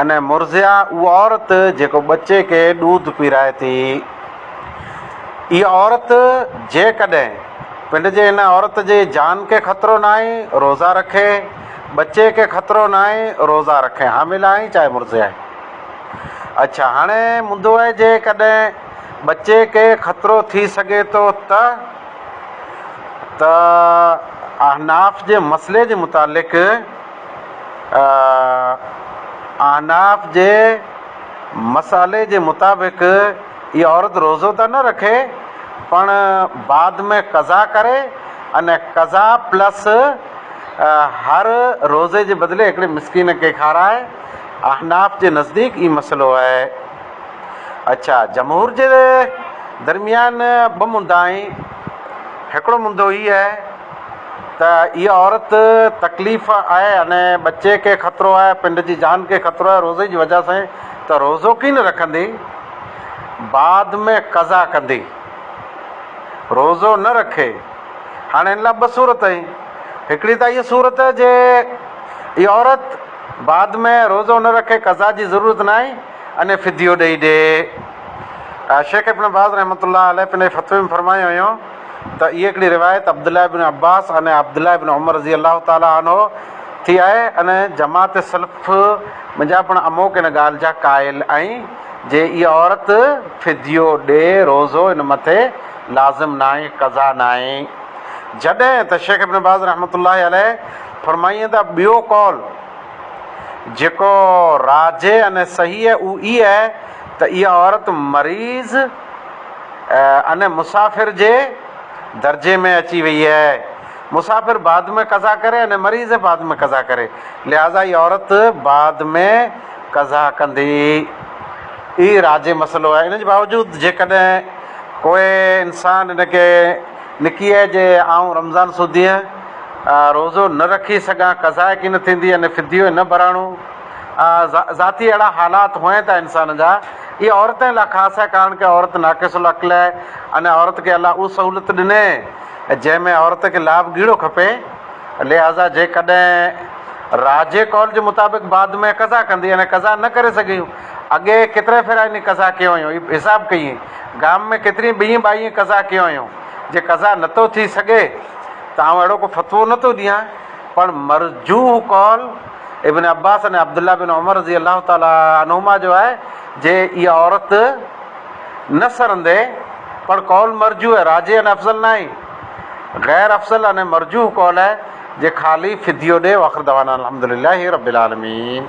انهيء مرضعه اها عورت جيڪو ٻچي کي ڏوڌ پيرائي ٿي. اها عورت جيڪڏهن پنڊ جي ان عورت جي جان کي خطرو ناهي روزا رکي، ٻچي کي خطرو ناهي روزا رکي، حامل آهي چاهي مرضعه آهي. اڇا هاڻي منڌو آهي جيڪڏهن ٻچي کي خطرو ٿي سگهي ٿو ته؟ ته احناف جي مسئلي جي متعلق احناف جي مسئلي جي مطابق اها عورت روزو ته نه رکي پڻ بعد ۾ قضا ڪري ان قضا پلس هر روزي جي بدلي هڪڙي مسڪين کي کارائي احناف جي نزديڪ هي مسئلو آهي اڇا جمهور جي درميان ٻه مندا آهن هڪڙو مندو هي آهي ته اها عورت تڪليف آهي اني ٻچي کي خطرو آهي پنڊ جي جان کي خطرو آهي روزي جي وجه سين ته روزو ڪين رکندي بعد ۾ قضا ڪندي روزو نه رکي هاڻي ان لا ٻه صورت اهين هڪڙي ته اهي صورت جي اها عورت بعد ۾ روزو نه رکي قضا جي ضرورت نه آهين اني فديو ڏئي ڏي شيخ ابن باز رحمت الله عليه پنهنجي فتوي ۾ فرمايو هيون ته اهي هڪڙي روايت عبدالله بن عباس ۽ عبدالله بن عمر رضي الله تعالٰي عنه ٿي آهي ۽ جماعت سلف منجهان پڻ اموڪ ان ڳالهه جا قائل ۽ جي اها عورت فديو ڏي روزو ان مٿي لازم ناهي قضا ناهي جڏهن ته شيخ ابن باز رحمة الله عليه فرمائين ته ٻيو قول جيڪو راجح ۽ صحيح اهو اهي ته اها عورت مريض ان مسافر جي درجي ۾ اچي وئي آهي. مسافر بعد ۾ قضا ڪري ان مريض بعد ۾ قضا ڪري لهٰذا هي عورت بعد ۾ قضا ڪندي. هي راجع مسئلو آهي. ان جي باوجود جيڪڏهن ڪو انسان ان کي نڪي آهي جي آئون رمضان سودينهن روزو نه رکي سگهان قضا ڪين ٿيندي ان فديو نه ڀراڻو. ذاتي اهڙا حالات هئين ٿا انسان جا اهي عورتين لاء خاص آهي ڪارڻ ڪي عورت ناقص العقل آهي ان عورت کي الله اهو سهولت ڏني جنهن ۾ عورت کي لاڀ ڳهيڙو کپي لهٰذا جيڪڏهن راجي قول جي مطابق بعد ۾ قضا ڪندي ان قضا نه ڪري سگهي هيون اڳي ڪيترا ڦيرا انهي قضا ڪيو هيون هي حساب ڪيئي گام ۾ ڪيترين ٻيئي ٻائي قضا ڪيو هيون جي قضا نٿو ٿي سگهي ته آئون اهڙو ڪو فتوو نٿو ڏيان پر مرجوح قول ابن عباس ۽ عبدالله بن عمر رضي الله تعالٰي عنهما جو آهي جي اها عورت نه سرندي پڻ قول مرجوح ۽ راجح ۽ افضل ناهي غير افضل ۽ مرجوح قول آهي جي خالي فديو ڏي واخر دعوانا الحمدلله رب العالمين.